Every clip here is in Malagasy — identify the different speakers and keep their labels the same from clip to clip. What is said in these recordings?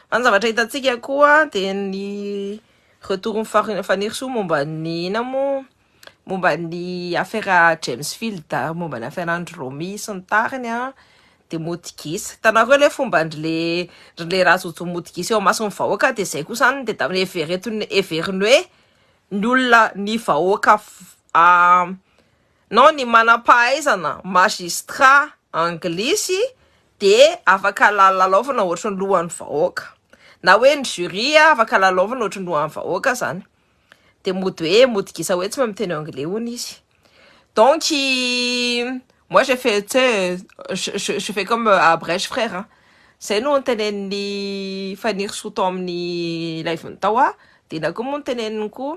Speaker 1: Fa ny zavatra hitantsika koa dia ny retourin'i Far- Fanirisoa momba ny ina moa momba ny afera James Field ary momba ny aferan'i Romy sy ny tariny an dia mody gisa. Hitanareo le fombandry le ry le Rajojo mody gisa eo imason'ny vahoaka dia izay kosa an dia da evereton- heveriny hoe ny olona ny vahoaka f- a. Nao ny manam-pahaizana magistrat anglisy dia afaka lalaovina ohatry ny lohan'ny vahoaka. Na hoe ny jury afaka lalaovina ohatry ny lohan'ny vahoaka izany. Dia mody hoe mody gisa hoe tsy mahay miteny anglais hono izy. Donc moi j'ai fait tu sais je je fais comme à Brèche frère an! Izay no nitenenin'i Fanirisoa tao amin'ny live-ny tao an! dia inona koa moa no teneniny koa?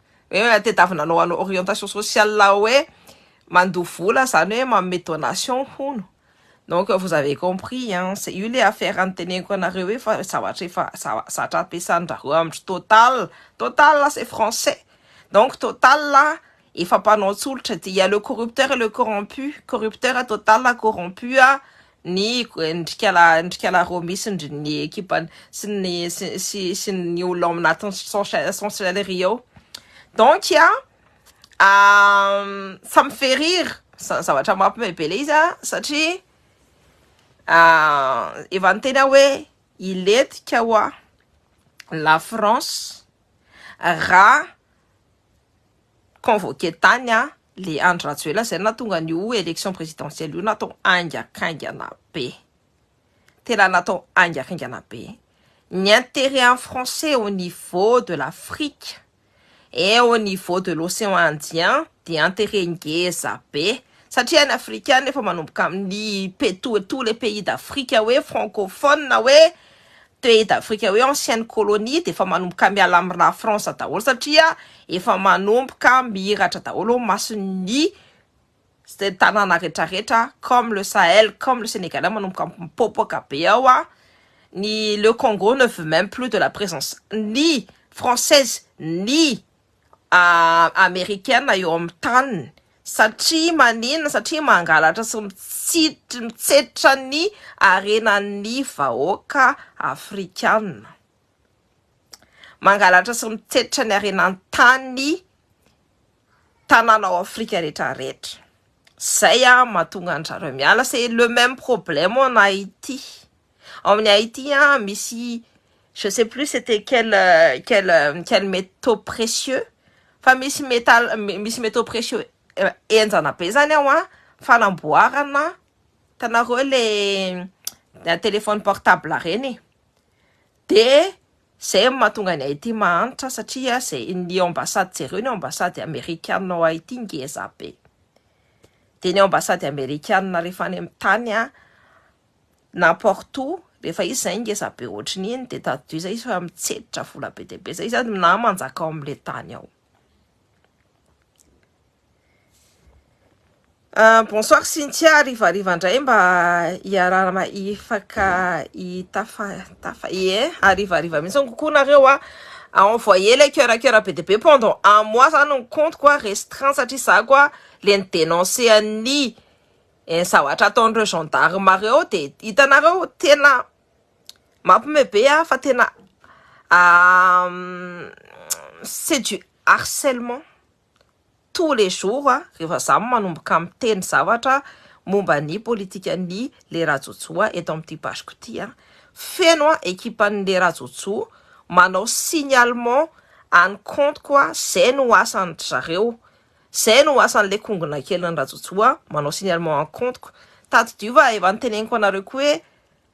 Speaker 1: Hoe tedavina anao hanao orientation sociale hoe mandoa vola zany hoe manome donation hono donc vous avez compris hein c'est io le affaire niteneniko anareo hoe fa zavatra efa zatra ampiasandrareo amindry total total c'est français donc total efa mpanao tsolotra dia le corrupteur et le corrompu corrupteur total corrompu ny ndrikala roa misy ndry ny ekipany sy ny sy sy ny olona ao anatin'ny sorcellerie ao donc ça me fait rire zavatra mampme be le izy satria efa niteny aho hoe hilentika hoa la France raha convoqué tany le Andry Rajoelina izay nahatonga an'io élection présidentielle io natao haingakaingana be, tena natao haingakaingana be, ny intérêt an'ny français au niveau de l'Afrique et au niveau de l'océan indien dia intérêt ngeza be satria ny afrikana efa manomboka amin'ny petoa tous les pays d'Afrique hoe francophone hoe pays d'Afrique hoe ancienne colonie dia efa manomboka miala amin'ny la France daholo satria efa manomboka mihiratra daholo ny mason'ny tanàna retraretra comme le Sahel comme le Sénégal manomboka mipopoka be ao a ny le Congo ne veut même plus de la présence ni française ni Amerikana eo amin'ny taniny satria maninona? Satria mangalatra sy mitsetra ny harenan'ny vahoaka afrikana. Mangalatra sy mitsetra ny harenan'ny tany tanàna ao Afrika rehetra rehetra. Izay mahatonga an-dry zareo miala. C'est le même problème en Haïti. Ao amin'ny Haïti an, misy je sais plus c'était quel quel quel métaux précieux fa misy métal misy métaux précieux henjana be zany ao an, fanamboarana hitanareo le téléphone portable reny e, de zay no mahatonga an'i Haïti mahantra satria zay ny ambassade jereo ny ambassade amerikana ao Haïti ngeza be, de ny ambassade amerikana rehefa any amin'ny tany an, N'importe où, rehefa izy zay ngeza be ohatry ny iny de tadidio zay izy fa mitseditra vola be dia be zay izy an, na manjaka ao amin'le tany ao. Ah, bonsoir Cynthia, harivariva indray mba hiarahana hifaka hitafa tafa ie, harivariva mihitsy ny kokoa nareo a, à envoyer le coeur à coeur be dia be pendant un mois zany ny compte-ko a restreint satria za koa le ni-denoncer an'i Eh ny zavatra ataon'ireo gendarme ireo dia hitanareo tena mampme be ah fa tena c'est du harcèlement tous les jours ah rehefa za manomboka miteny zavatra momba ny politikan'ny le Rajojo ah eto amin'ity page-ko ity ah feno ah ekipan'ny le Rajojo manao signalement any compte-ko ah zay no asan-dry zareo Zay no asan'le kongona kelin'i Rajojo a, manao signalement en compte-ko. Tadidio fa efa niteneniko anareo koa hoe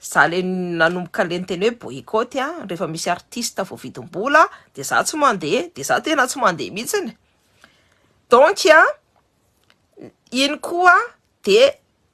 Speaker 1: za le nanomboka le niteny hoe boycott a, rehefa misy artiste voavidim-bola de za tsy mandeha, de za tena tsy mandeha mihitsiny. Donc a, iny koa de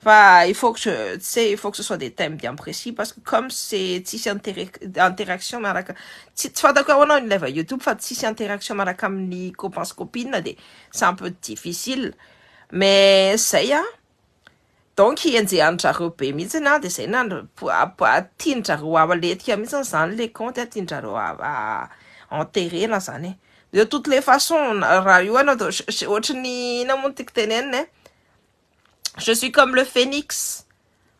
Speaker 1: Fa il faut que tu sais il faut que ce soit des thèmes bien précis parce que comme c'est tsisy interaction miaraka tsy fantako hoe ahoana ny ilay va youtube fa tsisy interaction miaraka amin'ny copain sy copine dia c'est un peu difficile mais zay an donc enjehan'ny zareo be mihitsy an dia zay na tianjareo aletika mihitsy izany ilay compte an tianjareo enterrer na izany e de toutes les façons raha io ianao dia ohatran'ny inona moa ny tiako tenenina e Je suis comme le phoenix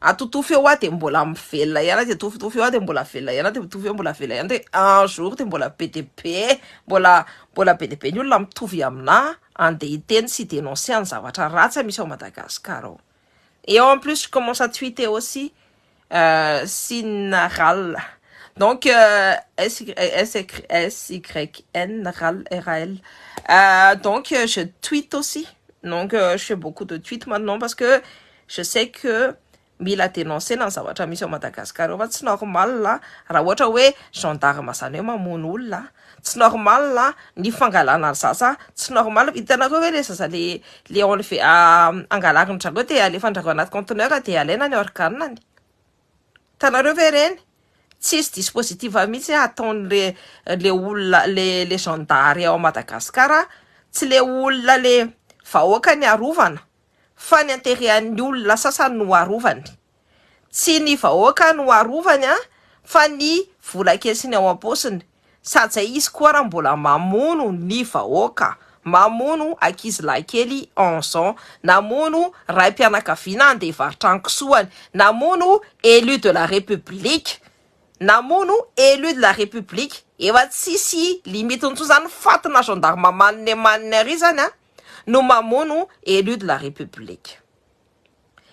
Speaker 1: atotofy eo aho dia mbola velona ihany aho dia atotofy eo aho dia mbola velona ihany aho dia atotofy eo mbola velona ihany dia un jour dia mbola be dia be mbola mbola be dia be ny olona mitovy aminà andeha hiteny sy dénoncer ny zavatra ratsy misy ao Madagascar ao et en plus je commence à tweeter aussi Sina ral. Donc SYN ral RAL. Euh, donc je tweet aussi. Donc je fais beaucoup de tweets maintenant parce que je sais que mila denoncer-na ny zavatra misy ao Madagascar eo fa tsy normal raha ohatra hoe gendarme zany hoe mamono olona Tsy normal ny fangalana ny zaza tsy normal hitanareo hoe le zaza le le enlever angalariny zareo de alefanjareo anaty conteneur de alaina ny organany hitanareo ve reny tsisy dispositif mihitsy ataonle le olona le le zandary ao Madagascar tsy le olona le vahoaka ny arovana fa ny anterean'ny olona sasany no arovany Tsy ny vahoaka no arovany an, fa ny vola kesiny ao am-paosiny. Saja izy koa raha mbola mamono ny vahoaka, mamono ankizilahy kely onze ans, namono raim-pianakaviana handeha hivarotra ny kisoany, namono élu de la République, namono élu de la République, efa tsisy limite intsony zany, fatina gendarme manne manne ary zany an, no mamono élu de la République.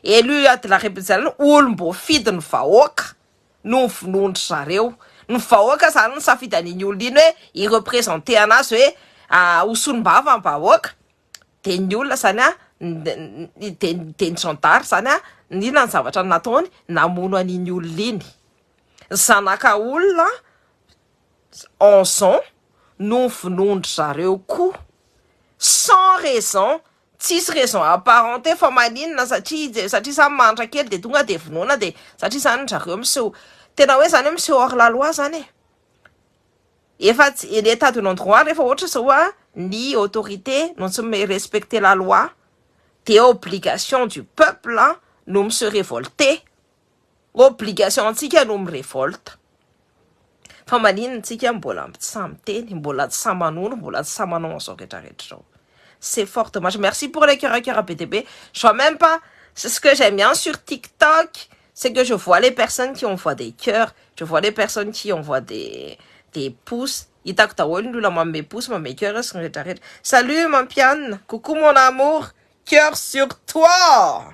Speaker 1: Élu de la République zany olom-boafidy ny vahoaka no vonoin-dry zareo. Ny vahoaka zany no safidy an'iny olona iny hoe hi-representer anazy hoe ho solombava ny vahoaka dia ny olona zany dia ny zandary zany inona ny zavatra nataony namono an'iny olona iny. Zanaka olona en zon no vonoin-dry zareo koa sans raison Tsisy raison apparente fa maninona satria satria zany mahantra kely de tonga de vonoina de satria zany zareo miseho tena hoe zany hoe miseho hors la loi zany e! efa état de non droit rehefa ohatra zao a ny autorité no tsy mi respecter la loi de obligation du peuple no mi se révolter Obligation ntsika no mi revolte fa maninona tsika mbola tsy sahy miteny mbola tsy sahy manondro mbola tsy sahy manao an'izao rehetra rehetra izao c'est fort dommage merci pour les cœur cœur be dia be je vois même pas c'est ce que j'aime bien sur tiktok c'est que je vois les personnes qui envoient des cœur je vois les personnes qui envoient des des pouces hitako daholo ny olona manome pouces manome cœur sy ny rehetra rehetra salut mampianina coucou mon amour cœur sur toi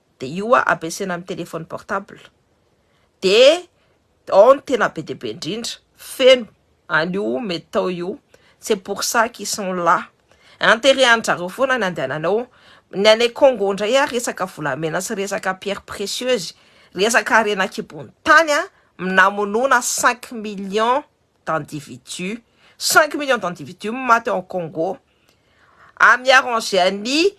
Speaker 1: de io a ampiasaina amin'ny téléphone portable de ao ny tena be dia be indrindra feno an'io mety tao io c'est pour ça qu'ils sont là intérêt-any zareo foana ny andehanany ao ny any Congo indray ary resaka volamena sy resaka pierre précieuse resaka harena an-kibon'ny tany a minamonoana cinq millions d'individus cinq millions d'individus no maty ao Congo à mi-arranger an'i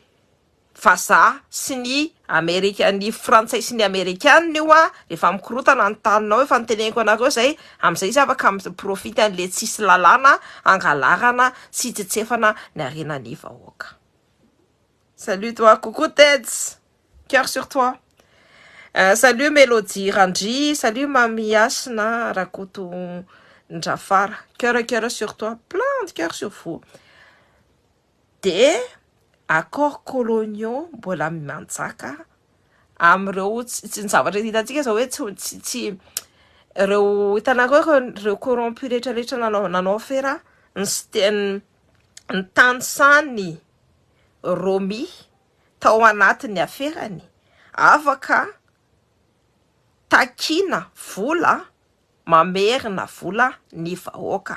Speaker 1: Vazaha sy ny Amerika, ny Frantsay sy ny Amerikana io a, rehefa mikorotana ny taninao efa noteneniko anareo zay, amizay izy afaka mi profite anle tsisy lalàna hangalarana sy hitsetsefana ny harena ny vahoaka. Salut toi, coucou Ted's, coeur sur toi, salut Melodie Randri, salut Mamy Hasina Rakotondrafara, coeur coeur sur toi, plein de coeur sur vous. Dia accords coloniaux mbola manjaka amin'ireo tsy ny zavatra hitantsika izao hoe tsy tsy tsy ireo hitanareo ireo ireo corrompus rehetra rehetra nanao nanao afera ny siteny ny tany sany romi tao anatin'ny aferany afaka takiana vola mamerina vola ny vahoaka.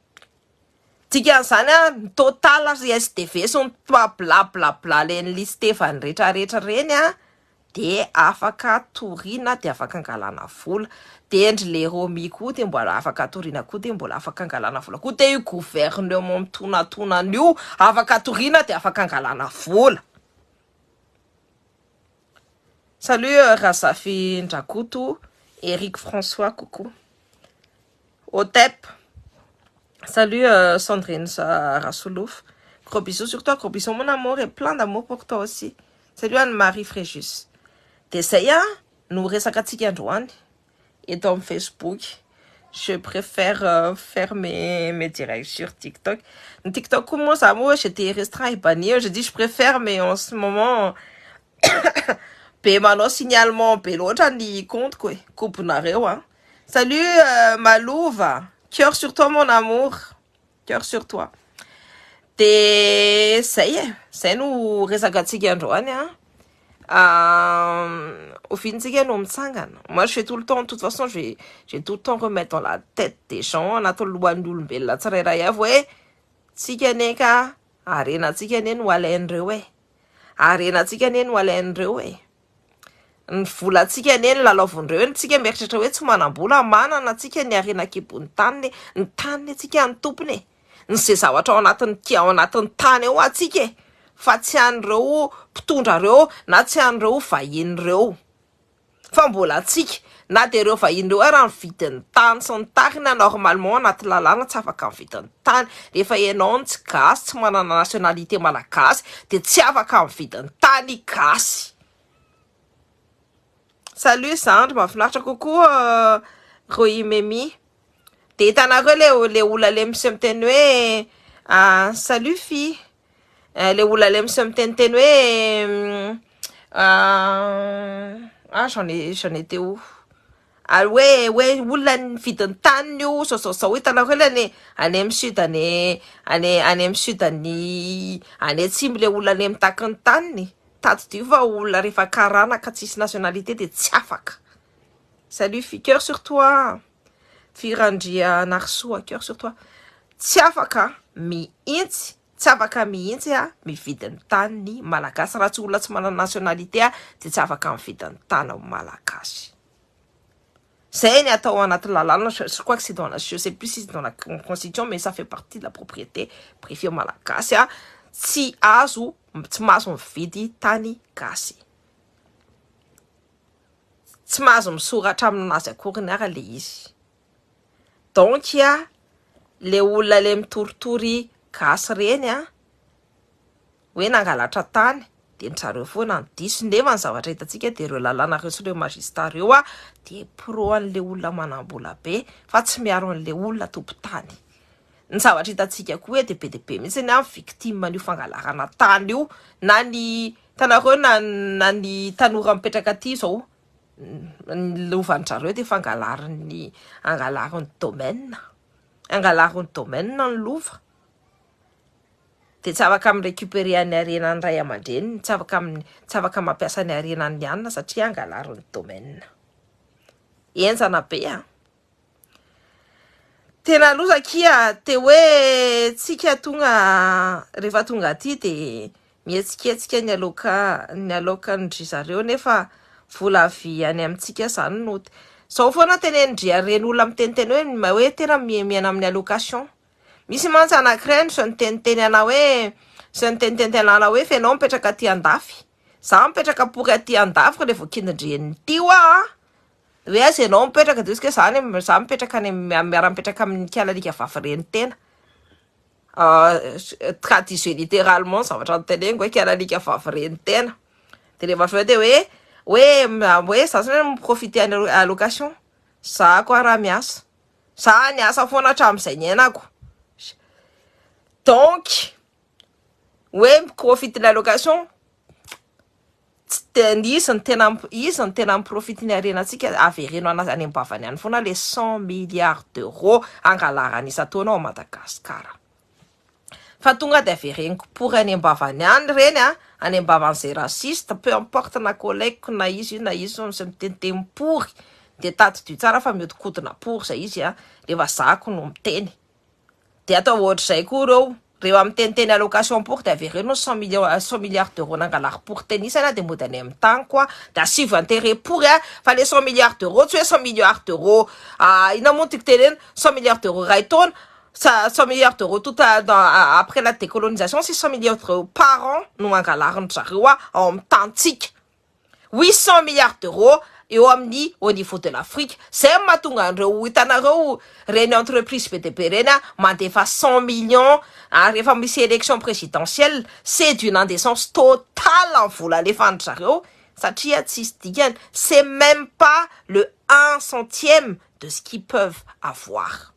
Speaker 1: Dikan'izany ary ny total ry SDV sy ny toi bla bla bla leny listevany retra retra reny de afaka toriana de afaka angalana vola de ndry le romi koa de mbola afaka toriana koa de mbola afaka angalana vola koa de io gouvernement mitonatonana io afaka toriana de afaka angalana vola salut Razafindrakoto Eric François coucou Otep. Salut Sandrine Rasolofo. Gros bisous sur toi, gros bisous mon amour et plein d'amour pour toi aussi. Salut an'i Marie Fréjus. Dia zay an no resakatsika androany eto amin'ny Facebook. Je préfère faire mes mes directs sur TikTok. Ny TikTok koa moa za moa j'étais restreint et banni eo, j'ai dit je préfère mais en ce moment be manao signalement be loatra ny compte-ko e. Kobonareo an. Salut Malova, coeur sur toi mon amour, coeur sur toi. De zay e, zay no resakatsika androany a. Oviantsika no mitsangana. Moi je vais tout le temps, de toute façon je vais, je vais tout le temps remettre dans la tête des gens anaty lohan'ny olombelona tsirairay avy hoe tsika anie ka harenantsika anie no alain'ireo e. Harenantsika anie no alain'ireo e. ny volantsika anie no lalaovin'ireo eny, tsika mieritreritra hoe tsy manam-bola, manana antsika ny harena an-kibon'ny taniny e, ny taniny antsika ny tompony e, ny ze zavatra ao anatin'ny ki ao anatin'ny tany ao antsika e, fa tsy an'ireo mpitondra ireo na tsy an'ireo vahiny ireo fa mbola antsika. Na dia ireo vahiny ireo ary amin'ny vidin'ny tany sy ny tarina normalement anaty lalàna tsy afaka amin'ny vidin'ny tany. Rehefa ianao no tsy gasy, tsy manana nationalité malagasy dia tsy afaka amin'ny vidin'ny tany gasy. Salut zandry, mahafinaritra kokoa Rohimemi. Dia hitanareo le le ola le misy miteny hoe salut fille. eh, le olona le misy miteniteny hoe ah j'en ai j'en ai teo ary hoe hoe olona ny vidin'ny taniny io saosaosao hitanareo le any any amin'ny sud any any any amin'ny sud any any atsimo le olona any mitaky ny taniny tadidio fa olona rehefa karana ka tsisy nationalité de tsy afaka salut fiqueur sur toi Virandrianarisoa coeur sur toi tsy afaka mihitsy tsy afaka mihitsy ah mividy ny tany ny malagasy raha tsy olona tsy manana nationalité ah dia tsy afaka mividy ny tany amin'ny malagasy zay ny atao anaty lalàna je crois que c'est dans la je sais plus si c'est dans la constitution mais ça fait partie de la propriété privée malagasy ah tsy azo tsy mahazo mividy tany gasy Tsy mahazo misoratra aminazy akoriny ara le izy. Donc a le olona le mitoritory gasy reny a hoe nangalatra tany de ndry zareo foana no diso nefa ny zavatra hitantsika de reo lalàna reo sy reo magista reo a de pro anle olona manambola be fa tsy miaro anle olona tompon tany. Ny zavatra hitantsika koa dia be dia be mihitsy ny victime an'io fangalarana tany io na ny hitanareo na na ny tanora mipetraka aty izao ny lovanjareo dia fangalarin'ny angalarin'ny domaine angalarin'ny domaine ny lova dia tsy afaka amin'ny récupérer an'ny harena ny ray aman-dreniny tsy afaka amin'ny tsy afaka mampiasa ny harena ny anina satria angalarin'ny domaine enjana be a Tena loza akia te hoe tsika tonga rehefa tonga aty de mihetsiketsika ny aloka ny alokan-dry zareo nefa vola avy any amintsika zany no zao foana tenenin-dry ireny olona miteniteny hoe mba hoe tena miaina amin'ny allocation misy mantsy anankiray no zao niteniteny ana hoe zao niteniteny anala hoe fa ianao mipetraka aty andafy za mipetraka pory aty andafy revo kindindry eny ity hoa Hoe aiza ianao mipetraka dia hoe za any za mipetraka any miara mipetraka amin'ny nikala alika vavy reny tena ka disait littéralement zavatra noteneniko hoe kala alika vavy reny tena de rehefa avy eo dia hoe hoe hoe za zany mi profiter any allocation za koa raha miasa za niasa foana hatramin'izay niainako donc hoe mi profiter ny allocation Tsy de ny izy no tena izy no tena miprofite ny harenantsika, avereno any any am-bavany any foana le cent milliards d'euros angalarany isan-taona ao Madagasikara. Fa tonga de avereniko pory any am-bavany any ireny a, any am-bavan'izay raciste, peu importe na collègue-ko na iza io na iza izay miteniteny pory de tadidio tsara fa mihodinkodina pory izay izy a, le vazaha-ko no miteny. Dia atao ohatr'izay koa ireo rehefa miteniteny allocation pour dia avereno ny cent millions euh, cent milliards d'euros nangalary pour tenisana dia mody any amin'ny tany quoi, dia asivo intérêt pour hein, fa le cent milliards d'euros tsy hoe cent milliards d'euros ah, inona moa no tiako tenenina, cent milliards d'euros iray taona sa cent milliards d'euros tout à dans ah, après la décolonisation sisa cent milliards d'euros par an no mangalary ny zareo ah, ao amin'ny tanintsika. huit cent milliards d'euros eo amin'ny au niveau de l'Afrique, izay no mahatonga an'ireo hitanareo ireny entreprises be dia be ireny mandefa cent millions ary rehefa misy élection présidentielle c'est d'une indécence totale ny vola alefan-dry zareo satria tsisy dikany, c'est même pas le un centième de ce qu'ils peuvent avoir.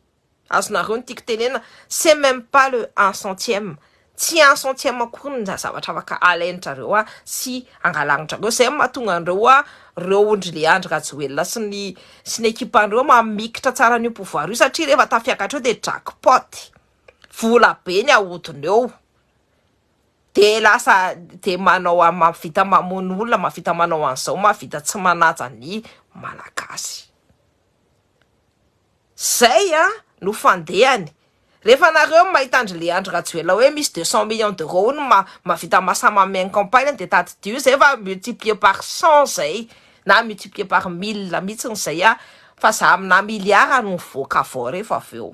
Speaker 1: Azonareo ny tiako tenena, c'est meme pas le un centième, tsy un centième akory ny zavatra afaka alain-drareo a sy angalagn-drareo, izay no mahatonga an'ireo a reo ondry le Andry Rajoelina sy ny sy ny ekipan-dreo mamikitra tsara an'io pouvoir io satria rehefa tafiakatra eo dia jackpot, vola be ny ahodina eo de lasa de manao a mahavita mamono olona, mahavita manao an'izao, mahavita tsy manaja ny Malagasy. Zay an no fandehany. Rehefa nareo no mahita andry le andry rajoela oe misy deux cent millions d'euros ony ma mavita masa mamegny campagne de tadidio zay fa multiplier par cent zay na multiplier par mille mitsiny zay an fa za amina milliard no mivoaka avao refa aveo.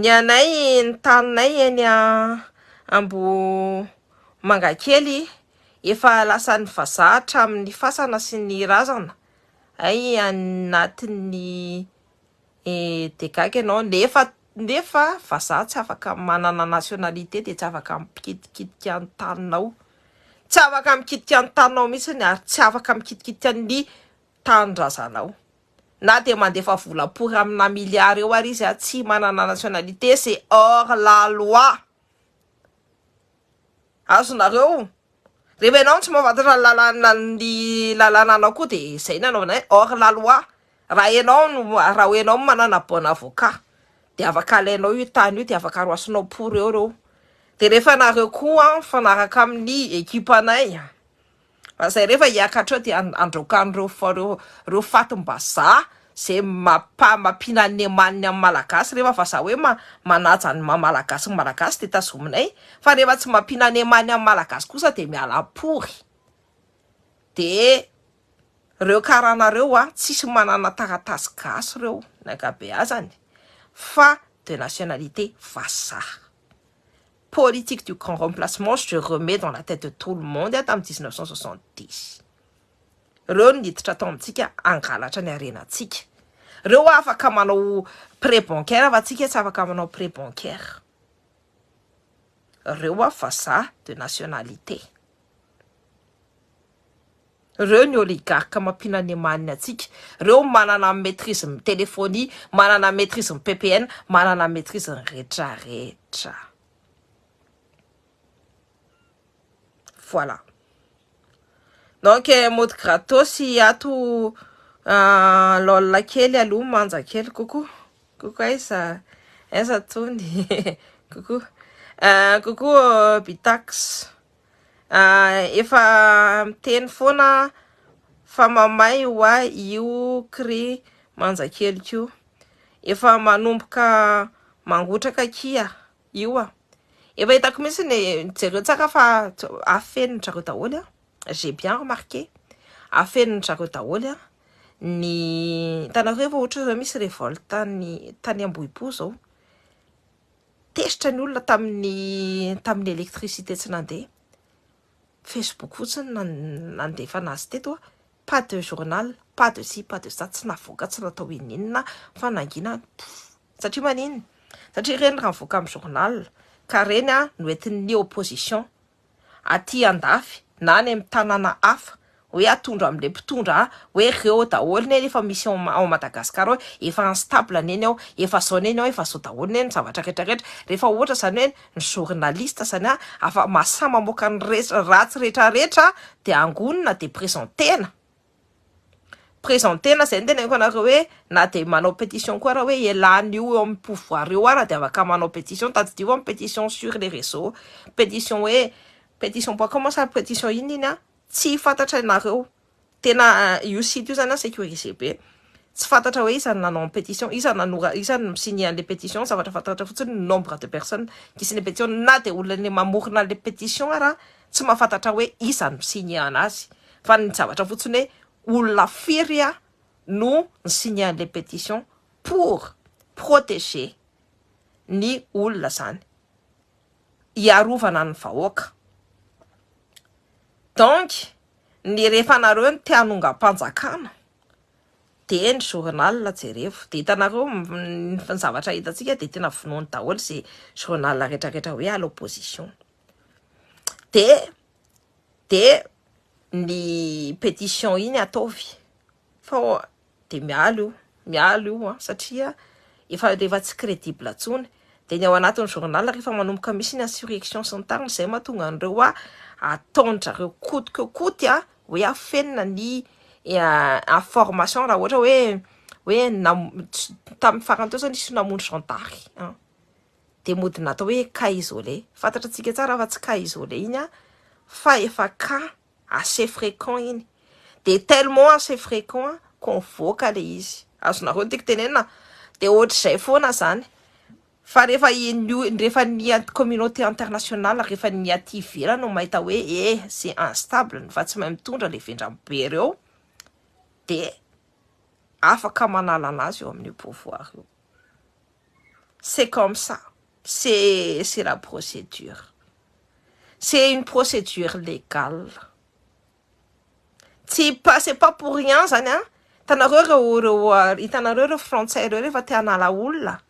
Speaker 1: Ny anay ny taninay eny Ambohimangakely efa lasan'ny vazaha hatramin'ny fasana sy ny razana ay anatin'ny dgac ianao nefa nefa vazaha tsy afaka manana nationalité dia tsy afaka mikitikitika ny taninao tsy afaka mikitika ny taninao mihitsy ary tsy afaka mikitikitika ny tanindrazanao Na dia mandefa vola pory amina milliards eo ary izy tsy manana nationalité c'est hors la loi. Azonareo? Rehefa ianao no tsy mahafantatra ny lalàna ny lalànanao koa dia izay no anaovana hoe hors la loi. Raha ianao no raha ianao manana bon avocat dia afaka alainao io tany io dia afaka roasinao pory eo reo. Dia rehefa nareo koa mifanaraka amin'ny equipe anay. Fa zay refa hiaka hatreo de andraoka an'ireo reo fatim-bazaha zay mapa mampiana ny emaniny amin'ny malagasy refa vazaha hoe manaja ny maha malagasy ny malagasy de tazominay fa refa tsy mampiana ny emaniny amin'ny malagasy kosa de miala am-pory de reo karana reo a tsisy manana taratasy gasy reo ny ankabeazany fa de nationalité vazaha politique du grand remplacement je remets dans la tête de tout le monde tamin'ny 1970 reo no niditra tao amintsika hangalatra ny harenantsika reo afaka manao prêt bancaire fa tsika tsy afaka manao prêt bancaire reo vazaha de nationalité Reo ny oligarque mampiana ny maniny antsika. Reo manana maitrise ny telefonie, manana maitrise ny ppn, manana maitrise ny rehetra rehetra. Voilà. Donc eh, mody gratos ato ah, lol kely aloha manja kely coucou. Coucou aiza aiza tony coucou. Ah, coucou euh, Bitax. Efa miteny foana fa mamay ho ahy io kry manjakeliko io. Efa manomboka mangotraka kia io a. Efa hitako mihitsy ny jereo tsara fa afenin dry zareo daholo an. J'ai bien remarqué. Afenin dry zareo daholo an. Ny hitanareo ve fa ohatry ny hoe misy revolte any tany Ambohipo zao. Tezitra ny olona tamin'ny tamin'ny électricité tsy nandeha. Facebook fotsiny no nandefana azy teto a. Pas de journal, pas de ci, pas de ça, tsy navoaka, tsy natao inon'inona fa nangina any pouf. Satria maninona? Satria ireny raha nivoaka amin'ny journal ka ireny no entin'ny opposition aty andafy na any amin'ny tanàna hafa hoe atondra amin'ilay mpitondra a, hoe reo daholo neny efa misy ao ao Madagascar ao e, efa instable neny ao, efa zao neny ao, efa zao daholo neny ny zavatra rehetra rehetra, rehefa ohatra zany hoe ny journaliste zany a afa-masaha mamoaka ny resy ratsy rehetra rehetra dia angonina dia presentena. Presenter-na izay no teneniko anareo hoe na dia manao petition koa ary hoe elan' io eo amin'ny pouvoir io ary dia afaka manao petition, tadidio fa petition sur les reseaux, petition hoe petition point com sa petition inona iny an, tsy fantatra nareo, tena io site io zany an securise be, tsy fantatra hoe iza no nanao ny petition, iza no nanora, iza no mi-signer an'ilay petition, ny zavatra fantatra fotsiny nombre de personnes qui signent petition, na dia olona le mamorona an'ilay petition ara tsy mahafantatra hoe iza no mi-signer-na azy fa ny zavatra fotsiny hoe olona firy no ni-signer an'ilay pétition pour protéger ny olona izany, hiarovana ny vahoaka. Donc ny rehefa anareo no te hanongam-panjakana dia ny journal jerevo dia hitanareo ny zavatra hitantsika dia tena vonoiny daholo izay journal retraretra hoe à l'opposition. dia dia ny pétition iny ataovy fa dia miala io miala io an satria efa efa tsy crédible intsony dia ny ao anatin'ny journal rehefa manomboka misy ny insurrection sy ny tariny izay mahatonga an'ireo hoa ataon-drareo koty keo koty an hoe afenina ny information raha ohatra hoe hoe nam- tamin'ny farany teo izao nisy namono zandary an. dia mody natao hoe cas isolé, fantatra tsika tsara fa tsy cas isolé iny an, fa efa cas assez fréquent iny, dia tellement assez fréquent ko mivoaka le izy, azonareo ny tiako tenenina, dia ohatr'izay foana zany, fa rehefa ny rehefa ny communauté internationale rehefa ny aty ivelany no mahita hoe eh c'est instable ny fa tsy mahay mitondra le vendrany be reo dia afaka manala an'azy eo amin'io pouvoir io. c'est comme ça c'est c'est la procédure c'est une procédure légale tsy pas c'est pas pour rien zany an hitanareo ireo ireo hitanareo ireo frantsay ireo rehefa te hanala olona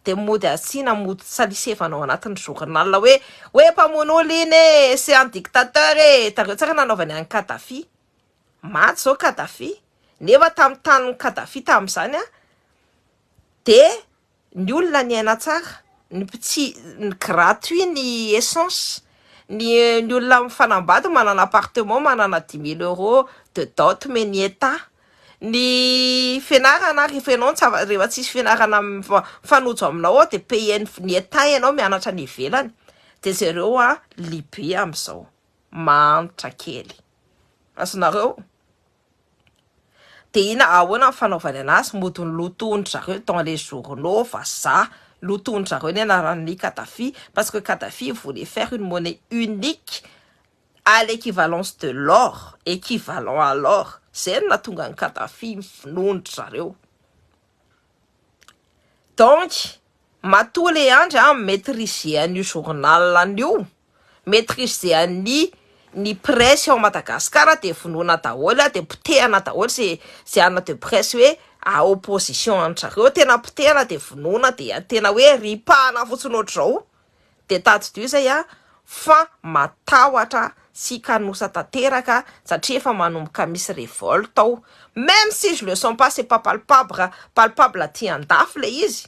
Speaker 1: dia mody asiana mody salisevana ao anatin'ny journal hoe hoe mpamono olona iny e c'est un dictateur e hitanareo tsara nanaovany an'i Kadhafi maty zao Kadhafi nefa tamin'ny tanin'i Kadhafi tamin'izany an Dia ny olona niaina tsara, ny mpitsi ny gratuit ny essence, ny ny olona mifanambady manana appartement manana dix mille euro de dot omen'ny etat, ny fianarana rehefa ianao tsy afa rehefa tsisy fianarana mifa mifanojo aminao ao dia payen'ny ny etat ianao mianatra any ivelany dia zareo an libe amzao, mahantra kely, azonareo? Dia ina ahoana ny fanaovany anazy, mody ny lotoin-dry zareo dans les journaux, vazaha, lotoin-dry zareo ny anaran'i Kadhafi, parce que Kadhafi il voulait faire une monnaie unique à l'équivalence de l'or, équivalent à l'or, zay no nahatonga an'i Kadhafi ny finoan-dry zareo. Donc, matoa le Andry an mi-maitriser an'io journal an'io, metrisean'ny ny presse ao Madagascar dia vonoina daholo dia potehana daholo ze ze ana de presse hoe a opposition any zareo tena potehana dia vonoina dia tena hoe ripahana fotsiny ohatr'izao dia tadidio izay aho fa matahotra sy kanosa tanteraka satria efa manomboka misy revolte ao meme si je le sens pas c'est pas palpable palpable aty andafy le izy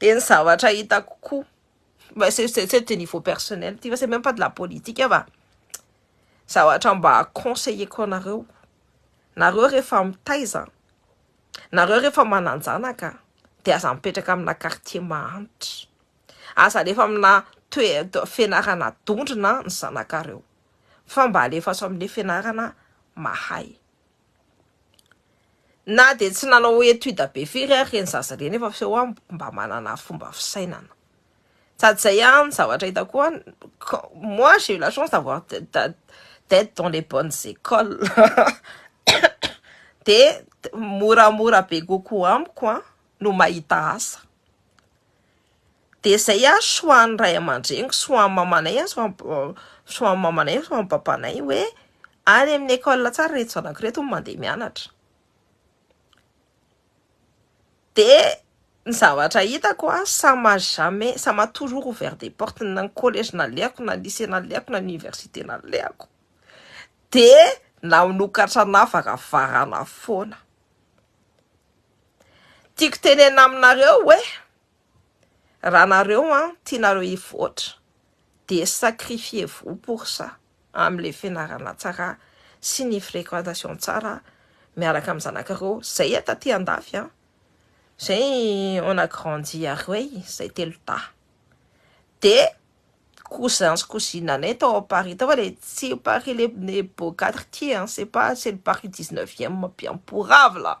Speaker 1: Dia ny zavatra hitako koa, mais c'est c'est c'est de niveau personnel ity fa c'est même pas de la politique fa zavatra mba conseiller-ko anareo, nareo rehefa mitaiza, nareo rehefa manan-janaka dia aza mipetraka amina quartier mahantra, aza alefa amina toe- to- fianarana dondrona ny zanakareo fa mba alefaso amle fianarana mahay. Na dia tsy nanao étude be firy ary ireny zaza ireny efa f'eo an, mba manana fomba fisainana. Sady izay an, zavatra hitako koa an, moi j'ai eu la chance d'avoir d'être dans les bonnes écoles dia moramora be kokoa amiko an no mahita asa. Dia izay ary choix-n'ny ray aman-dreniko, choix-n'ny mamanay ary choix-n'ny mamanay ary choix-n'ny babanay hoe any amin'ny école tsara ireto zanako ireto no mandeha mianatra. Dia ny zavatra hitako an, ça m'a jamais, ça m'a toujours ouvert des portes, na ny collège nalehako, na ny lycée nalehako, na ny université nalehako dia nanokatra anà varavarana foana. Tiako tenenina aminareo hoe. Raha nareo an tianareo hivoatra de sacrifiez vous pour ça am le fianarana tsara sy ny frequentation tsara miaraka am zanakareo zay e taty andafy an zay on a grandi a roey zay telo dahy de cousins sy cousine anay tao am paris tao fa le tsy paris le beau cadre ty an c'est pas c'est le paris dix neuvième biamporavla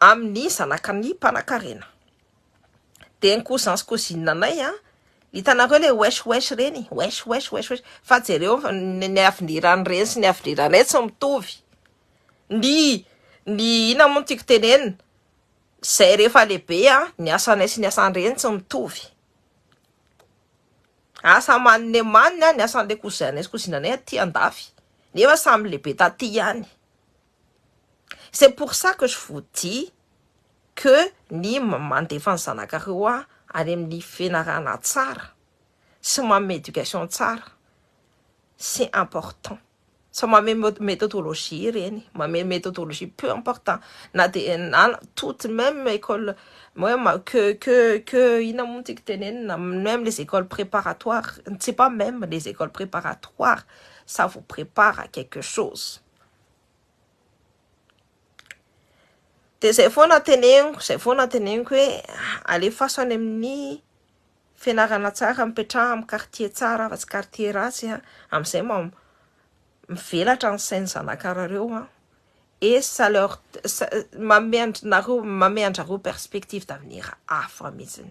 Speaker 1: amin'ny zanaka ny mpanakarena dia ny cousins cousines anay an, hitanareo ilay wesh wesh ireny, wesh wesh wesh wesh, fa jereo ny aviniran'ireny sy ny aviniranay tsy mitovy, ny ny inona moa no tiako tenenina, izay rehefa lehibe an, ny asanay sy ny asan'ireny tsy mitovy, asa amaniny amaniny an ny asan'ilay cousin anay sy cousine anay aty andafy, nefa samy lehibe taty ihany. C'est pour ça que je vous dis que ny mandefa ny zanakareo any amin'ny fianarana tsara sy manome éducation tsara c'est important sao manome méthodologie ireny, manome méthodologie peu important na dia na toute même école que que que inona moa no tiako tenenina même les écoles préparatoires, c'est pas même les écoles préparatoires ça vous prépare à quelque chose. De izay foana teneniko, izay foana teneniko hoe alefaso any amin'ny fianarana tsara, mipetraha amin'ny quartier tsara fa tsy quartier ratsy an, amin'izay mba mivelatra ny sain'ny zanakarareo an, et ça leur ça manome anareo manome anjareo perspective d'avenir hafa mihitsiny.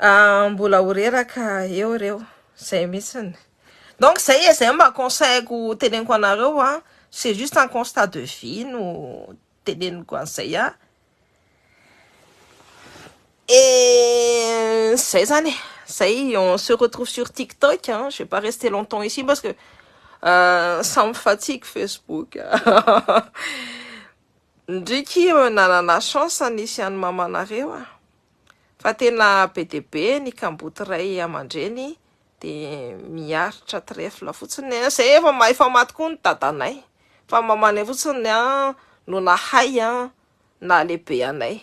Speaker 1: Ah, mbola ho reraka eo reo, zay mitsiny. Donc zay e, zay mba conseil-ko teneniko anareo an, c'est juste un constat de vie no teneniko an'izay an, et zay zany e, zay on se retrouve sur tiktok an, je vais pas rester longtemps ici parce que samy fatiako facebook. Ndry ki eo nanana chance nisy an'i mamanareo a! Fa tena be dia be ny kamboty ray amandreny dia miaritra trèfle fotsiny a! Zay efa mahay famato koa ny dadanay fa mamanay fotsiny a no nahay a nahalehibe anay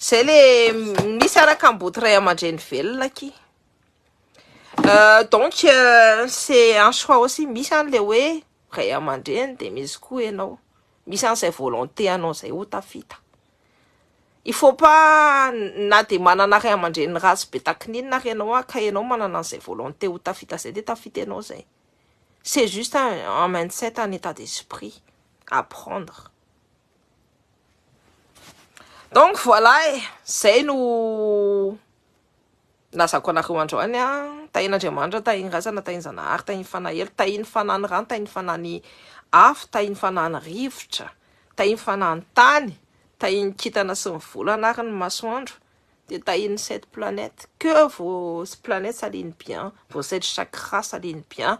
Speaker 1: zay le misy ara kamboty ray amandreny velona ki donc c'est un choix aussi misy any le hoe Ray aman-dreny dia misy koa ianao. Misy an izay volonté anao izay ho tafita. Il faut pas na dia manana ray aman-dreny ratsy be takininona ary ianao an, ka ianao manana an izay volonté ho tafita izay dia tafita ianao izay. C'est juste un mindset, un état d'esprit à prendre. Donc voilà e, izay no. Nilazako anareo androany an, tahin' Andriamanitra, tahin' ny razana, tahin' ny Zanahary, tahin' ny Fanahy Ela, tahin' ny Fanahin' ny rano, tahin' ny Fanahin' ny afo, tahin' ny Fanahin' ny rivotra, tahin' ny Fanahin' ny tany, tahin' ny kintana sy ny volana ary ny masoandro, dia tahin' ny sept planètes, que vos planètes s'alignent bien, vos sept chakras s'alignent bien,